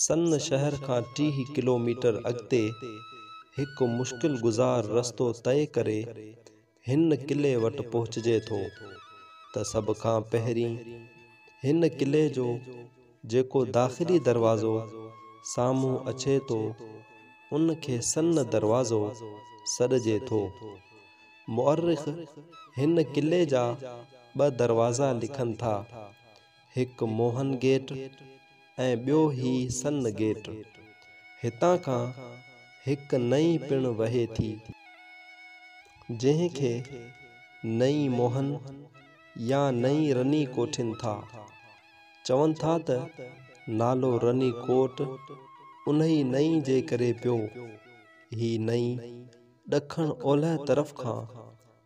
سن شهر کان ٽيهه ڪلوميٽر اڳتي هڪ مشڪل گذار رستو طئي ڪري هن قلعي وٽ پهچجي ٿو ته سڀ کان پهرين هن قلعي جو جيڪو داخلي دروازو سامهون اچي ٿو، ان کي سن دروازو سڏجي ٿو. مؤرخ هن قلعي جا ٻه دروازا لکن ٿا، هڪ موهن گيٽ ۽ ٻيو هي سن گيٽ. هتان کان هڪ نئي پڻ وهي ٿي، جنهن کي نئي موهن يا نئي رني ڪوٺين ٿا. چون ٿا ته نالو رني ڪوٽ انهي نئي جي ڪري پيو. هي نئي ڏکڻ اولهه طرف کان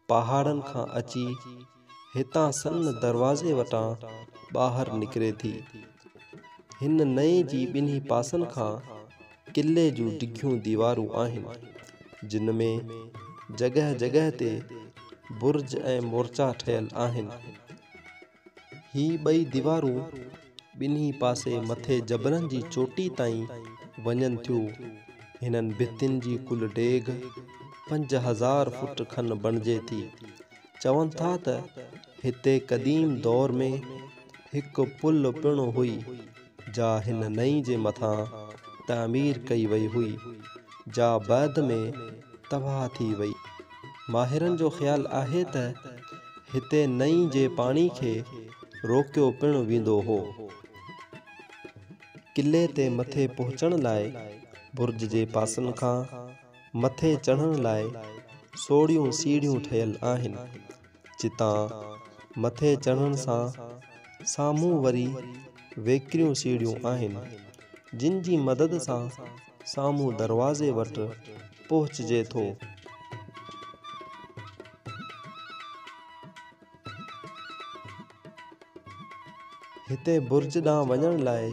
پهاڙن کان اچي هتان سن دروازي وٽان ٻاهر نڪري ٿي. هن نئي جي ٻنهي پاسن کان قلعي جون ڊگهيون ديوارون آهن، جن ۾ جڳهه جڳهه تي برج ۽ مورچا ٺهيل آهن. هي ٻئي ديوارون ٻنهي پاسي مٿي جبلن جي چوٽي تائين وڃن ٿيون. هنن ڀتين جي ڪل ڊيگهه پنج هزار فوٽ کن بڻجي ٿي. چون ٿا ته هتي قديم دور ۾ هڪ پل پڻ هئي. جا هن نئين جي مٿان تعمير ڪئي وئي هئي، جا بعد ۾ تباهه ٿي وئي. ماهرن جو خيال آهي ته هتي نئين جي پاڻي کي روڪيو پڻ ويندو هو. قلعي تي مٿي پهچڻ لاء برج جي پاسن کان مٿي چڙهڻ لاء سوڙهيون سيڙهيون ٺهيل آهن. جتان مٿي چڙهڻ سان سامهون وري ويڪريون سيڙهيون آهن، جن جي مدد سان سامهون دروازي وٽ پهچجي ٿو. هتي برج ڏانهن وڃڻ لاء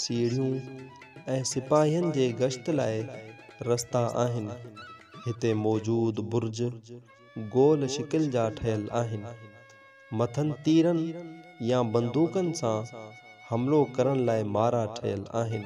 سيڙهيون ۽ سپاهين جي گشت لاء رستا آهن. هتي موجود برج. گول شڪل جا ٺهيل آهن. مٿن تيرن يا بندوقن سان حملو ڪرڻ لاء مارا ٺهيل آهن.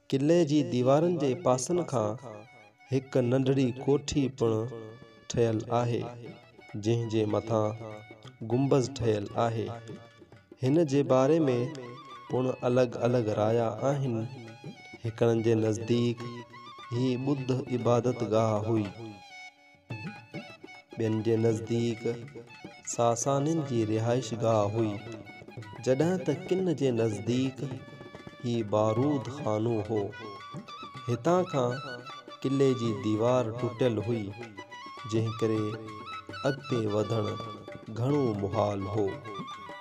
قلعي جي ديوارن جي پاسن کان هڪ ننڍڙي ڪوٺي پڻ ٺهيل آهي، جنهن جي مٿان گنبذ ٺهيل آهي. هن جي باري ۾ پڻ الڳ الڳ رايا آهن. هڪڙن جي نزديڪ هي ٻڌ عبادتگاهه هئي. ٻين جي نزديڪ ساسانين جي رهائش گاهه هئي، جڏهن ته ڪن جي نزديڪ هي بارود خانو هو. هتان کان قلعي جي ديوار ٽٽيل هئي، جنهن ڪري اڳتي وڌڻ گهڻو محال هو.